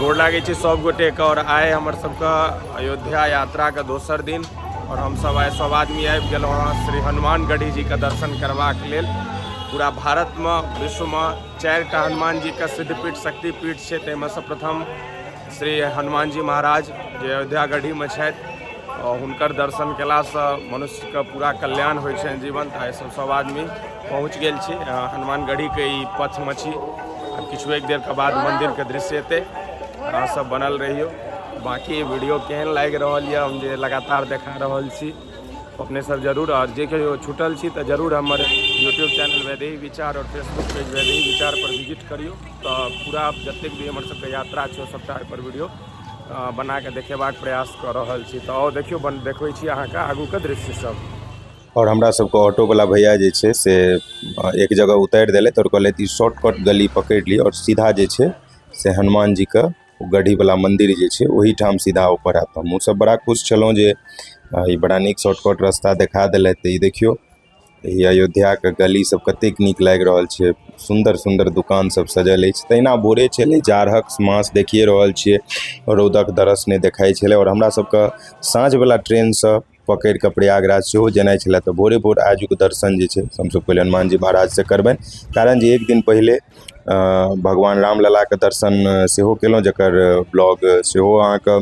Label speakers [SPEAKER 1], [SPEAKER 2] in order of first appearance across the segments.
[SPEAKER 1] गोर लागै छै सब गोटे के और आए हमर सबके अयोध्या यात्रा के दोसर दिन और हम सब आए सब आदमी आबि गेलहुँ हँ श्री हनुमान गढ़ी जी के दर्शन करबाक लेल पूरा भारतमे विश्वमे चारिटा हनुमान जी के सिद्धपीठ शक्तिपीठ छै ताहिमे से प्रथम श्री हनुमान जी महाराज जे अयोध्या गढ़ीमे छथि आओर हुनकर दर्शन कयलासँ मनुष्यके पूरा कल्याण होइ छनि जीवन तऽ एहिसँ सभ आदमी पहुँच गेल छी अ, हनुमान गढ़ीके ई पथमे छी आब किछु एक देरके बाद मन्दिरके दृश्य एतै अहाँ सब बनल रहियौ बाकी वीडियो केहन लागि रहल यऽ हम जे लगातार देखा रहल छी अपने सब जरूर और जे कहियो छुटल छी तऽ जरूर हमर यूट्यूब चैनल वैदेही विचार और फेसबुक पेज वैदेही विचार पर विजिट करियो तऽ पूरा जतेक भी हमर सबके यात्रा छै सबटा पर वीडियो बना के देखेबाक प्रयास कऽ रहल छी तऽ और देखियो बन देखबै छी अहाँ के आगू के दृश्य सब और हमरा
[SPEAKER 2] सबके ऑटो वाला भैया जे छै से एक जगह उतारि देलथि और कहलथि ई शॉर्टकट गली पकड़ि लिअ और सीधा जे छै से हनुमान जी के ओ गढ़ीवला मन्दिर जे छै ओहिठाम सीधा ऊपर आयत हमहूँ सब बड़ा खुश छलहुँ जे ई बड़ा नीक शॉर्टकट रस्ता देखा देलथि तऽ ई देखियौ ई अयोध्याके गली सब कतेक नीक लागि रहल छै सुन्दर सुन्दर दोकान सब सजल अछि तहिना भोरे छलै जाड़क मास देखिये रहल छियै रौदक दरस नहि देखाइ छलै आओर हमरा सबके साँझवला ट्रेनसँ पकड़ि कऽ प्रयागराज सेहो जेनाइ छलए तऽ भोरे भोर आजुक दर्शन जे छै से हमसभ पहिले हनुमानजी महाराजसँ करबनि कारण जे एक दिन पहिले भगवान रामललाके दर्शन सेहो कयलहुँ जकर ब्लॉग सेहो अहाँकेँ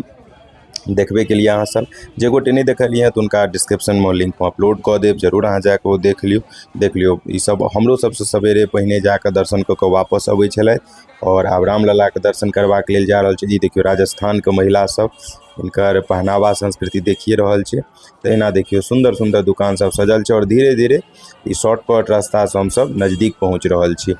[SPEAKER 2] देखबे केलियै अहाँसभ जे गोटे नहि देखलियै हँ तऽ हुनका डिस्क्रिप्शनमे लिंक हम अपलोड कऽ देब जरूर अहाँ जा कऽ ओ देख लियौ देख लियौ ईसभ हमरो सभसँ सवेरे पहिने जा कऽ दर्शन कऽ कऽ वापस अबै छलथि आओर आब रामललाके दर्शन करबाक लेल जा रहल छी ई देखियौ राजस्थानके महिलासभ हुनकर पहनावा संस्कृति देखिये रहल छीये ते एहना देखियो सुंदर-सुंदर दुकान सब सजल छै और धीरे-धीरे इ शॉर्ट कट रास्ता से हम सब नजदीक पहुंच रहल छीये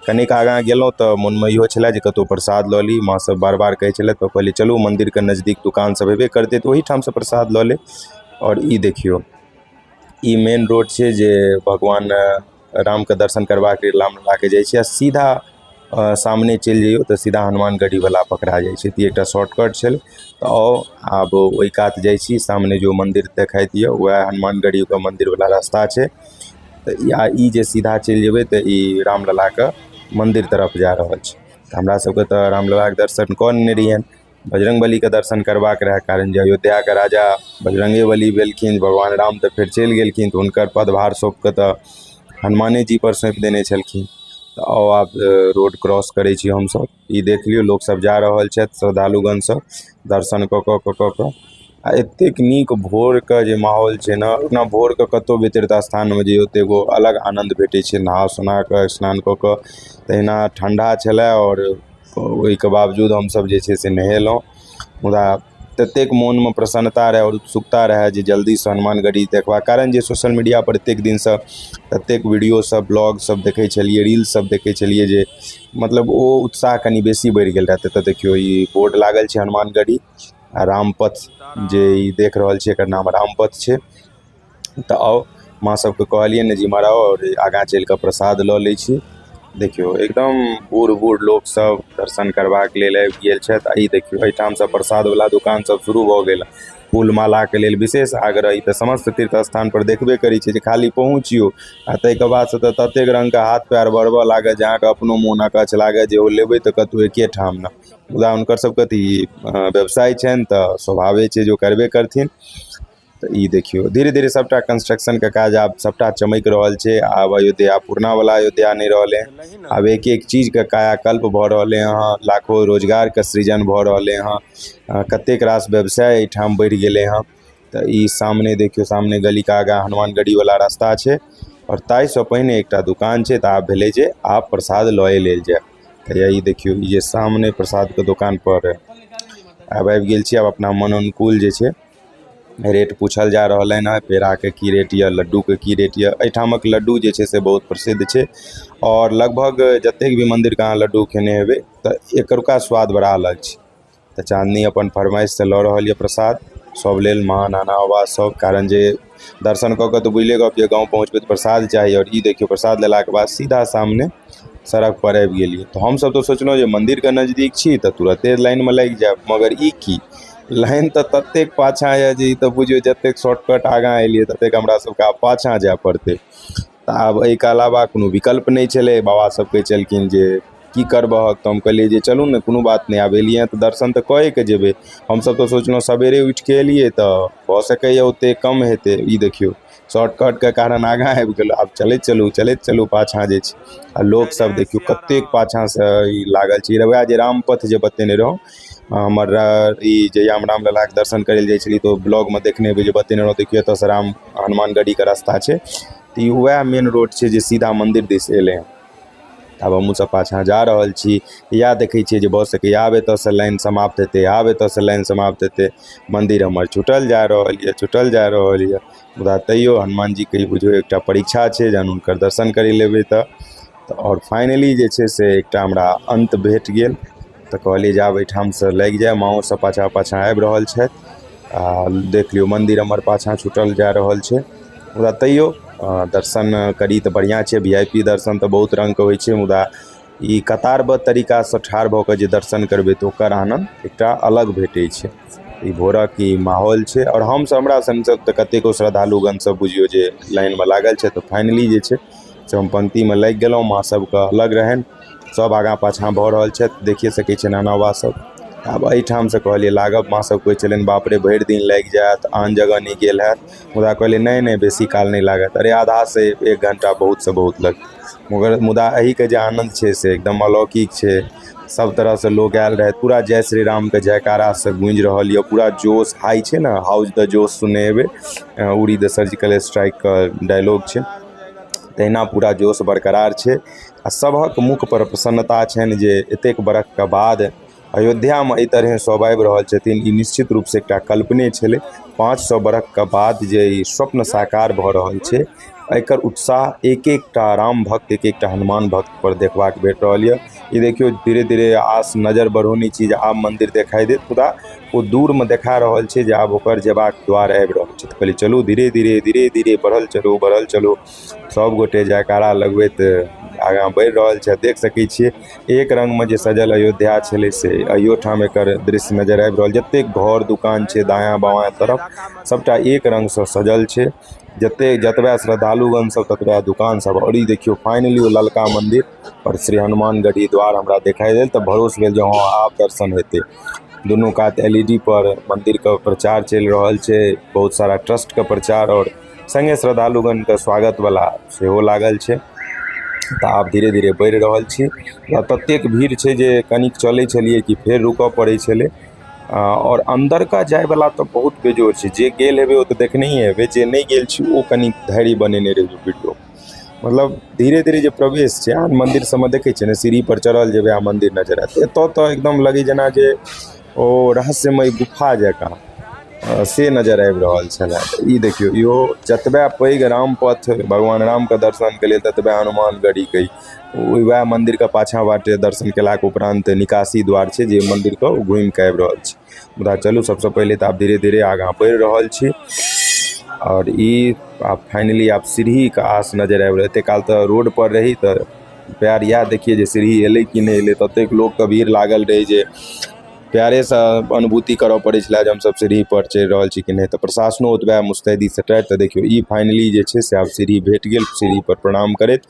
[SPEAKER 2] कनिक आगा गेलो ते मन में इहो छले जे कतो प्रसाद ल ली मां सब बार-बार कहे छले ते कहलिये चलू मंदिर के नजदीक दुकान सब हेबे करते ते ओहि ठाम से प्रसाद ल लेब और इ देखियो इ मेन रोड छीये जे भगवान -- रामके दर्शन करबाक लेल राम ललाके जाइ छी आ सीधा सामने चलि जइयौ तऽ सीधा हनुमान गढ़ी बला पकड़ा जाइ छै तऽ ई एकटा शॉर्टकट छलै तऽ आउ आब ओहि कात जाइ छी सामने जे ओ मन्दिर देखाइ दिअ वएह हनुमान गढ़ी पर मन्दिर बला रस्ता छै तऽ ई आ ई जे सीधा चलि जेबै तऽ ई राम ललाके मन्दिर तरफ जा रहल छै तऽ हमरा सभके तऽ राम ललाके दर्शन कऽ लेने रहियनि बजरङ्ग बलीके दर्शन करबाक रहै कारण जे अयोध्याके राजा बजरङ्गे बली भेलखिन भगवान राम तऽ फेर चलि गेलखिन तऽ हुनकर पदभार सौँपिके तऽ हनुमाने जीपर सौँपि देने छलखिन तऽ आउ आब रोड क्रॉस करै छी हमसभ ई देख लियौ लोकसभ जा रहल छथि श्रद्धालुगणसभ दर्शन कऽ कऽ कऽ कऽ कऽ आ एतेक नीक भोरके जे माहौल छै ने ओना भोरके कतहु भी तीर्थ स्थानमे जे ओतेक एगो अलग आनन्द भेटै छै नहा सुना कऽ स्नान कऽ कऽ तहिना ठण्ढा छलय आओर ओहिके बावजूद हमसभ जे छै से नहेलहुँ मुदा ततेक मोनमे प्रसन्नता रहय आओर उत्सुकता रहय जे जल्दीसँ हनुमानगढ़ी देखबाक कारण जे सोशल मीडियापर एतेक दिनसँ एतेक वीडियोसभ ब्लॉगसभ देखै छलियै रील्ससभ देखै छलियै जे मतलब ओ उत्साह कनि बेसी बढ़ि गेल रहए तऽ देखियौ ई बोर्ड लागल छै हनुमानगढ़ी आ रामपथ जे ई देख रहल छियै एकर नाम रामपथ छै तऽ आउ माँ सभकेँ कहलियनि जे इमहर आउ आओर आगाँ चलि कऽ प्रसाद लऽ लै छी देखियौ एकदम बूढ़ बूढ़ लोकसभ दर्शन करबाक लेल आबि गेल छथि आ ई देखियौ एहिठामसँ प्रसादवला दोकानसभ शुरू भऽ गेल फूल मालाके लेल विशेष आग्रह ई तऽ समस्त तीर्थ स्थानपर देखबे करै छियै जे खाली पहुँचियौ आ ताहिके बादसँ तऽ ततेक रङ्गके हाथ पएर बढ़बय लागत जे अहाँकेँ अपनो मोन अकच्छ लागत जे ओ लेबै तऽ कतहु एके ठाम ने मुदा हुनकरसभके तऽ ई व्यवसाय छनि तऽ स्वाभाविक छै जे ओ करबे करथिन तऽ ई देखियौ धीरे धीरे सभटा कंस्ट्रक्शनके काज आब सभटा चमकि रहल छै आब अयोध्या पुरनावला अयोध्या नहि रहलै आब एक एक चीजके कायाकल्प भऽ रहलै हँ लाखो रोजगारके सृजन भऽ रहलै हँ कतेक रास व्यवसाय एहिठाम बढ़ि गेलै हँ तऽ ई सामने देखियौ सामने गलीके आगाँ हनुमान गढ़ीवला रास्ता छै आओर ताहिसँ पहिने एकटा दोकान छै तऽ आब भेलै जे आब प्रसाद लए लेल जाय तऽ ई देखियौ ई जे सामने प्रसादके दोकानपर आब आबि गेल छी आब अपना मन अनुकूल जे छै रेट पूछल जा रहलनि हँ पेड़ाके की रेट यऽ लड्डूके की रेट यऽ एहिठामक लड्डू जे छै से बहुत प्रसिद्ध छै आओर लगभग जतेक भी मन्दिरके अहाँ लड्डू खेने हेबै तऽ एतुका स्वाद बड़ा अलग छै तऽ चाँदनी अपन फरमाइश से लऽ रहल यऽ प्रसाद सब लेल महान अनावास सब कारण जे दर्शन कऽ कऽ तऽ बुझले गप यऽ गाँव पहुँचबै तऽ प्रसाद चाही आओर ई देखियौ प्रसाद लेलाके बाद सीधा सामने सड़कपर आबि गेलियै तऽ हमसभ तऽ सोचलहुँ जे मन्दिरके नजदीक छी तऽ तुरन्ते लाइनमे लागि जायब मगर ई की लाइन तऽ ततेक पाछाँ यए जे ई तऽ बुझियौ जतेक शॉर्टकट आगाँ एलियै ततेक हमरासभके आब पाछाँ जाय पड़तै तऽ आब एहिके अलावा कोनो विकल्प नहि छलै बाबा सब कहै छलखिन जे की करबहक तऽ हम कहलियै जे चलू ने कोनो बात नहि आब एलियै हँ तऽ दर्शन तऽ कए कऽ जेबै हमसब तऽ सोचलहुॅं सबेरे उठि कऽ एलियै तऽ भऽ सकैया ओते कम हेतै ई देखियौ शॉर्टकट के कारण आगाँ आबि गेलहुॅं आब चलैत चलू चलैत चलू पाछाँ जे छै आ लोक सब देखियौ कतेक पाछाँ सँ ई लागल छै वएह जे रामपथ जे बतेने रहौं हमर ई जहिया हम रामललाके दर्शन करय लए जाइ छलियै तऽ ओ ब्लॉगमे देखने हेबै जे बतेने रहौं देखियौ एतऽसँ राम हनुमान गढ़ीके रस्ता छै तऽ ई वएह मेन रोड छै जे सीधा मन्दिर दिस एलय हँ आब हमहुँ सब पाछाँ जा रहल छी इएह देखय छियै जे भऽ सकइए आब एतऽसँ लाइन समाप्त हेतय आब एतऽसँ लाइन समाप्त हेतय मन्दिर हमर छुटल जा रहल यऽ छुटल जा रहल यऽ मुदा तैयो हनुमान जीके ई बुझियौ एकटा परीक्षा छै जहन हुनकर दर्शन करय लए एबय तऽ तऽ आओर फाइनली जे छै से एकटा हमरा अन्त भेट गेल तऽ कहलियै जे आब एहिठामसँ लागि जाय माँओ सभ पाछाँ पाछाँ आबि रहल छथि आ देख लियौ मन्दिर हमर पाछाँ छूटल जा रहल छै मुदा तैओ दर्शन करी तऽ बढ़िआँ छै वी आइ पी दर्शन तऽ बहुत रङ्गके होइ छै मुदा ई कतारबद्ध तरीकासँ ठाढ़ भऽ कऽ जे दर्शन करबै तऽ ओकर आनन्द एकटा अलग भेटै छै ई भोरक ई माहौल छै आओर हमसभ हमरा सङ्ग सङ्ग तऽ कतेको श्रद्धालुगणसभ बुझियौ जे लाइनमे लागल छथि तऽ फाइनली जे छै हम पंक्तिमे लागि गेलहुँ माँ सभके अलग रहनि सभ आगाँ पाछाँ भऽ रहल छथि देखिए सकै छियनि एना बात सभ आब एहिठामसँ कहलियै लागब माँ सभ कहै छलनि बाप रे भरि दिन लागि जायत आन जगह नहि गेल हैत मुदा कहलियै नहि नहि बेसी काल नहि लागत अरे आधासँ एक घण्टा बहुतसँ बहुत लगतै मगर मुदा एहिके जे आनन्द छै से एकदम अलौकिक छै सब तरह से लोग आयल रहे पूरा जय श्री राम के जयकारा से गूंज रहल ये पूरा जोश हाई छै ने हाउस द जोश सुने हेबे उड़ी द सर्जिकल स्ट्राइक के डायलॉग छै तहिना पूरा जोश बरकरार छै आ सबहक मुख पर प्रसन्नता छनि जे एतेक बरख के बाद अयोध्या में एहि तरह सब आबि रहल छथिन ई निश्चित रूप से एकटा कल्पने छलै पाँच सौ बरख के बाद जे ई स्वप्न साकार भऽ रहल छै एकर उत्साह एक एकटा राम भक्त एक एकटा हनुमान भक्त पर देखबाक भेट रहल यऽ ई देखियो धीरे धीरे आस नजर बढ़ौनी छी जे आब मंदिर देखाई देत मुदा ओ दूर में देखा रहल छै जे आब ओकर जेबाक द्वार आबि रहल छै कहली चलू धीरे धीरे धीरे धीरे बढ़ल चलू बढ़ल चलू सब गोटे जयकारा लगबैत आगाँ बढ़ि रहल छै देख सकै छियै एक रंग में जे सजल अयोध्या छलै से अहियो ठाम एकर दृश्य नजर आबि रहल जतेक घर दुकान छै दायाँ बायाँ तरफ सबटा एक रंग से सजल छै जते जतबे श्रद्धालुगण सब ततबे दुकान सब और ई देखियो फाइनली ओ ललका मंदिर आओर श्री हनुमान गढ़ी द्वार हमरा देखाइ देल तऽ भरोस भेल जे हँ आब दर्शन हेतै दुनू कात एल ई डी पर मन्दिरके प्रचार चलि रहल छै बहुत सारा ट्रस्टके प्रचार आओर सङ्गे श्रद्धालुगणके स्वागत बला सेहो लागल छै तऽ आब धीरे धीरे बढ़ि रहल छी आ ततेक भीड़ छै जे कनिक चलै छलियै कि फेर रुकऽ पड़ै छलै आ, आओर अन्दरका जायवला तऽ बहुत बेजोड़ छै जे गेल हेबै ओ तऽ देखनहिए हेबै जे नहि गेल छी ओ कनि धैर्य बनेने रहियौ वीडियो मतलब धीरे धीरे जे प्रवेश छै अहाँ मन्दिर सबमे देखय छियै ने सीढ़ीपर चढ़ल जेबय आओर मन्दिर नजर आयत एतऽ तऽ एकदम लगय जेना जे ओ रहस्यमय गुफा जकाँ से नजर आबि रहल छलै ई देखियौ इहो जतबे पैघ रामपथ भगवान रामके दर्शनके लेल ततबे हनुमान गढ़ीके ई वएह मन्दिरके पाछाँ बाटे दर्शन कयलाके उपरान्त निकासी द्वार छै जे मन्दिरके घुमिके आबि रहल छै मुदा चलू सभसँ पहिले तऽ आब धीरे धीरे आगाँ बढ़ि रहल छी आओर ई आब फाइनली आब सीढ़ीके आस नजरि आबि रहल एतेक काल तऽ रोडपर रही तऽ पएर इएह देखियै जे सीढ़ी अयलै कि नहि अयलै ततेक लोकके भीड़ लागल रहै जे पएरेसँ अनुभूति करय पड़ै छलय जे हमसभ सीढ़ीपर चढ़ि रहल छी कि नहि तऽ प्रशासनो ओतबहि मुस्तैदीसँ टाइट तऽ देखियौ ई फाइनली जे छै से आब सीढ़ी भेट गेल सीढ़ीपर प्रणाम करैत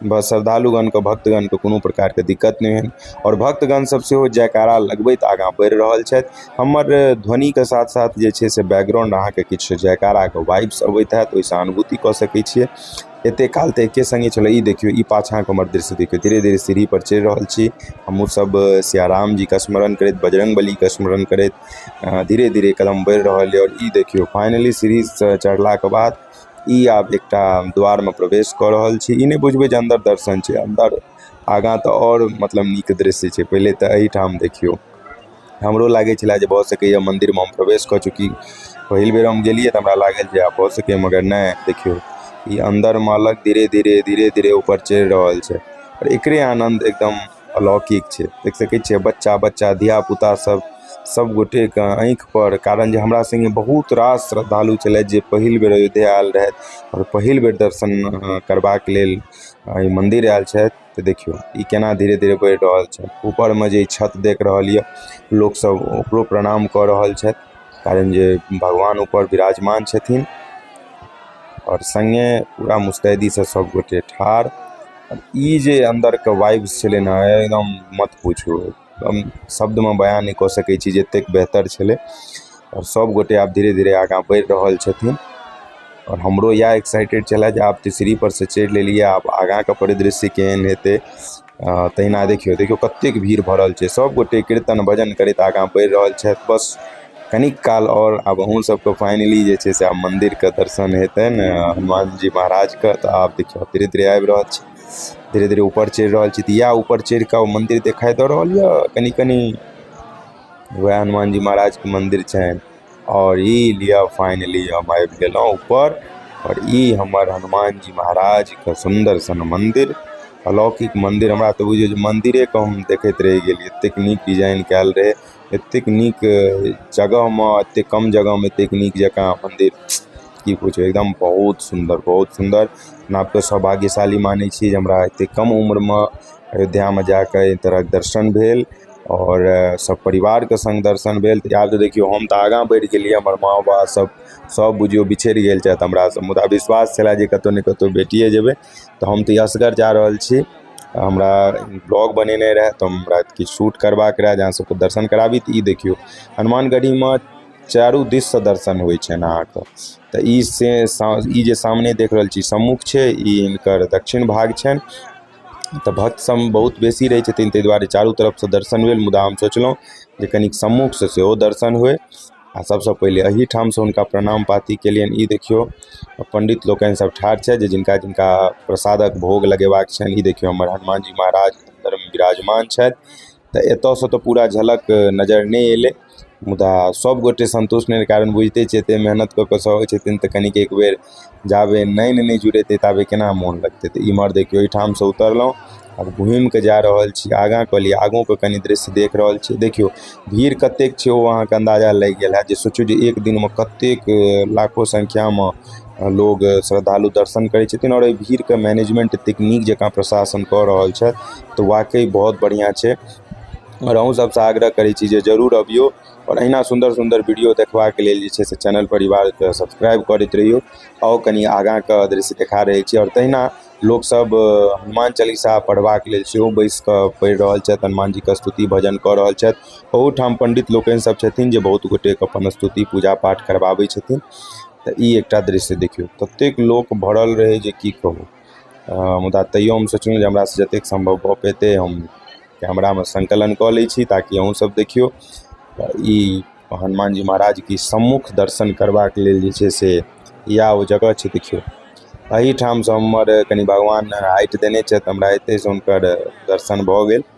[SPEAKER 2] बस श्रद्धालुगणके भक्तगणके कोनो प्रकारके दिक्कत नहि होनि आओर भक्तगण सब सेहो जयकारा लगबैत आगाँ बढ़ि रहल छथि हमर ध्वनिके साथ साथ जे छै से बैकग्राउण्ड अहाँके किछु जयकाराके वाइब्स अबैत होयत ओहिसँ अनुभूति कऽ सकैत छियै एते काल तऽ एके सङ्गे छलै ई देखियौ ई पाछाँके हमर दृश्य देखियौ धीरे धीरे सीढ़ी पर चढ़ि रहल छी हमहुँ सब सिया राम जीके स्मरण करैत बजरङ्ग बलीके स्मरण करैत धीरे धीरे कदम बढ़ि रहल यऽ आओर ई देखियौ फाइनली सीढ़ीसँ चढ़लाके बाद इ आब एकटा द्वार में प्रवेश क रहल छी इ ने बुझबे जे अंदर दर्शन छै अंदर आगा ते और मतलब निक दृश्य छै पहले ते ए ठाम देखियो हमरो लागे छला जे भ सके ये मंदिर में हम प्रवेश क चुकी पहिल बेर हम गेलिये ते हमरा लागल जे आब भ सके ये मगर ने देखियो इ अंदर में अलग धीरे-धीरे धीरे-धीरे ऊपर चढ़ रहल छै एकरे आनंद एकदम -- अलौकिक छै देख सकै छियै बच्चा बच्चा धिया पुता सब सब गोटेके आँखि पर कारण जे हमरा सङ्गे बहुत रास श्रद्धालु छलथि जे पहिल बेर अयोध्या आयल रहथि आओर पहिल बेर दर्शन करबाक लेल एहि मन्दिर आयल छथि तऽ देखियौ ई केना धीरे धीरे बढ़ि रहल छै ऊपरमे जे छत देख रहल यऽ लोक सब ओकरो प्रणाम कऽ रहल छथि कारण जे भगवान ऊपर विराजमान छथिन आओर सङ्गे पूरा मुस्तैदीसँ सब गोटे ठाढ़ ई जे अन्दरके वाइब्स छलै ने एकदम मत पुछू हम शब्दमे बयाँ नहि कऽ सकै छी जे एतेक बेहतर छलै आओर सब गोटे आब धीरे धीरे आगाँ बढ़ि रहल छथिन आओर हमरो इएह एक्साइटेड छलै जे आब तऽ सीढ़ी पर से चढ़ि लेलियै आब आगाँके परिदृश्य केहन हेतै तहिना देखियौ देखियौ कतेक भीड़ भरल छै सब गोटे कीर्तन भजन करैत आगाँ बढ़ि रहल छथि बस कनिक काल आओर आब अहूँ सबके फाइनली जे छै से आब मन्दिरके दर्शन हेतै ने हनुमान जी महाराजके तऽ आब देखियौ धीरे धीरे आबि रहल छी धीरे धीरे ऊपर चढ़ि रहल छी तऽ इएह ऊपर चढ़ि कऽ ओ मन्दिर देखाइ दऽ रहल यऽ कनि कनि वएह हनुमान जी महाराजके मन्दिर छनि आओर ई लिअ फाइनली हम आबि गेलहुँ ऊपर आओर ई हमर हनुमान जी महाराजके सुन्दर सन मन्दिर अलौकिक मन्दिर हमरा तऽ बुझियौ जे मन्दिरेके हम देखैत रहि गेलियै एतेक नीक डिजाइन कयल रहै एतेक नीक जगहमे एतेक कम जगहमे एतेक नीक जकाँ मन्दिर की पुछू एकदम बहुत सुन्दर बहुत सुन्दर अपना आपके सौभाग्यशाली मानै छी जे हमरा एतेक कम उम्रमे अयोध्यामे जा कऽ एहि तरहक दर्शन भेल आओर सभ परिवारके सङ्ग दर्शन भेल तऽ आब तऽ देखियौ हम तऽ आगाँ बढ़ि गेलियै हमर माँ बाबासभ सभ बुझियौ बिछड़ि गेल छथि हमरासँ मुदा विश्वास छलए जे कतहु ने कतहु भेटिए जेबै तऽ हम तऽ ई असगर जा रहल छी हमरा ब्लॉग बनेनाइ रहै तऽ हमरा किछु शूट करबाके रहै जे अहाँ सबके दर्शन कराबी तऽ ई देखियौ हनुमान गढ़ीमे चारू दिससँ दर्शन होइ छनि अहाँके तऽ ई से ई जे सामने देख रहल छी सम्मुख छै ई हिनकर दक्षिण भाग छनि तऽ भक्त सब बहुत बेसी रहै छथिन तै दुआरे चारू तरफसँ दर्शन भेल मुदा हम सोचलहुँ जे कनिक सम्मुखसँ सेहो दर्शन होइ आ सभसँ पहिले एहिठामसँ हुनका प्रणाम पाती केलियनि ई देखियौ पण्डित लोकनि सभ ठाढ़ छथि जे जिनका जिनका प्रसादक भोग लगेबाक छनि ई देखियौ हमर हनुमान जी महाराज अन्दरमे विराजमान छथि तऽ एतयसँ तऽ पूरा झलक नजर नहि अयलै मुदा सभगोटे सन्तुष्ट नहि रहै कारण बुझिते छियै एतेक मेहनति कऽ कऽ सभ अबै छथिन तऽ कनिक एक बेर जाबे नैन नहि जुड़ेतै ताबे केना मोन लगतै तऽ इमहर देखियौ एहिठामसँ उतरलहुँ आब घुमिके जा रहल छी आगाँ कहलियै आगूके कनि दृश्य देख रहल छी देखियौ भीड़ कतेक छै ओ अहाँके अन्दाजा लागि गेल होयत जे सोचियौ जे एक दिनमे कतेक लाखो सङ्ख्यामे लोग श्रद्धालु दर्शन करै छथिन आओर एहि भीड़के मैनेजमेंट एतेक नीक जकाँ प्रशासन कऽ रहल छथि तऽ वाकइ बहुत बढ़िआँ छै आओर अहूँ सभसँ आग्रह करै छी जे जरूर अबियौ आओर अहिना सुन्दर सुन्दर वीडियो देखबाके लेल जे छै से चैनल परिवारके सब्सक्राइब करैत रहियौ आओर कनि आगाँके दृश्य देखा रहल छी आओर तहिना लोकसभ हनुमान चालीसा पढ़बाक लेल सेहो बैसि कऽ पढ़ि रहल छथि हनुमान जीके स्तुति भजन कऽ रहल छथि ओहूठाम पण्डित लोकनि सभ छथिन जे बहुत गोटेके अपन स्तुति पूजा पाठ करबाबै छथिन तऽ ई एकटा दृश्य देखियौ ततेक लोक भरल रहै जे की कहू मुदा तैयो हम सोचलहुँ जे हमरा से जतेक सम्भव भऽ पयतै हम कैमरामे सङ्कलन कऽ लै छी ताकि अहूँ सब देखियौ तऽ ई हनुमान जी महाराजके सम्मुख दर्शन करबाक लेल जे छै से या ओ जगह छै देखियौ अहिठामसँ हमर कनी भगवान हाइट देने छथि हमरा एतयसँ हुनकर दर्शन भऽ गेल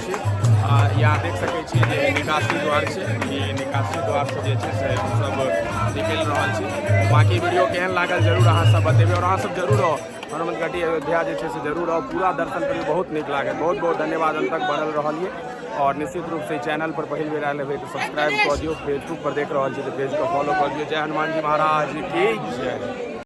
[SPEAKER 1] यहाँ देख सकै छी जे निकासी द्वार छै ई निकासी द्वारसँ जे छै से हमसभ निकलि रहल छी बाँकी वीडियो केहन लागल जरूर अहाँसभ बतेबै आओर अहाँसभ जरूर आउ हनुमतगढ़ी अयोध्या जे छै से जरूर आउ पूरा दर्शन करियौ बहुत नीक लागल बहुत बहुत धन्यवाद अंत तक बनल रहलिए और निश्चित रूप से चैनल पर पहली बेर आयल हेबै तऽ सब्सक्राइब कऽ दियौ फेसबुक पर देख रहल छी तऽ पेज के फॉलो कऽ दियौ जय हनुमान जी महाराज की जय